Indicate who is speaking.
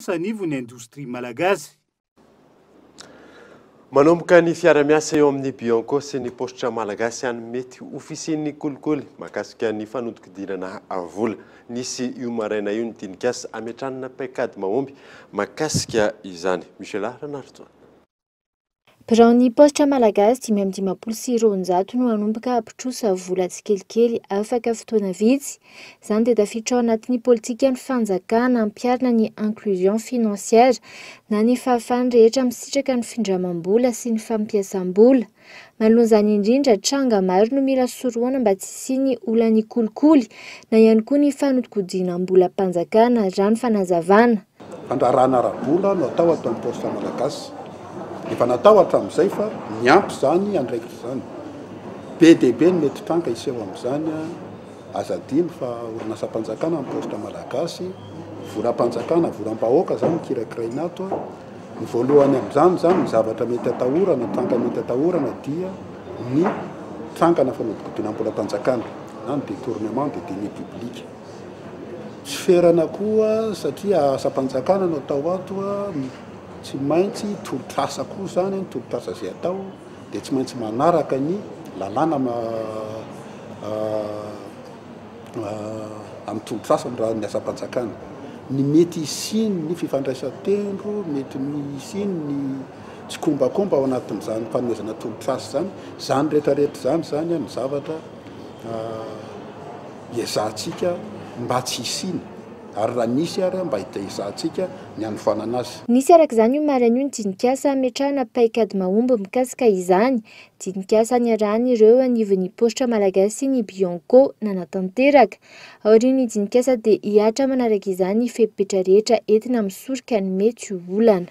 Speaker 1: sy anivon'ny indostria malagasy.
Speaker 2: Manomboka ny fiara-miasa eo amin'ny Bianco sy ny paositra malagasy any mety ho fisian'ny kolikoly mahakasika ny fanodinkodinana vola. Nisy io maraina io ny dinik'asa hametrahana paikady mahomby mahakasika izany. Michela Ranarison.
Speaker 3: Biraon'ny paositra malagasy dimy amby dimampolo sy roanjato no hanomboka hampitrosa vola tsikelikely afaka fotoana vitsy. Izany dia tafiditra ao anatin'ny politikan'ny fanjakana hampiharina ny inclusion financière na ny fahafahan'ny rehetra misitraka ny findramam-bola sy ny fampiasam-bola. Manoloana izany indrindra, tranga maro no mila sorohana mba tsy hisian'ny olan'ny kolikoly na ihany koa ny fanodikodianam-bolam-panjakana, raha ny fanazavana. Fandraharahana
Speaker 4: ara-bola no atao ato amin'ny Poste Malagasy. Efa natao hatramin'izay fa miampy izany andraikitra izany. Be dia be ny mety tranga hiseho amin'izany. Aza adino fa orinasam-panjakana ny Poste Malagasy. Volam-panjakana, volam-bahoaka izany no kirakiraina ato. Ny voalohany amin'izany izany, ny zavatra mety atahorana, ny tranga mety atahorana dia ny trangana fanodikodinam-bolam-panjakana na ny détournement des deniers publics. Tsy ferana koa satria asam-panjakana no atao ato, tsy maintsy tolotr'asa koa izany, ny tolotr'asa izay atao dia tsy maintsy manaraka ny lalàna amin'ny tolotr'asa amin'ny rariny asam-panjakana, ny mety hisian'ny fifandraisan-tendro, mety hisian'ny tsikombakomba ao anatin'izany fanomezana tolotr'asa izany, izany rehetrarehetra izany izany no zavatra hiezahantsika mba tsy hisiany ary raha nisy ary mba hiezahantsika ny hanofanana azy. Nisy araka izany io maraina
Speaker 3: io ny dinik'asa hametrahana paikady mahomby mikasika izany, Dinikasa niarahany ireo anivon'ny paositra malagasy sy ny Bianco nanatanteraka. Aorian'ny dinikasa dia hihatra manaraka izany ny fepetra rehetra entina misoroka ny mety ho olana.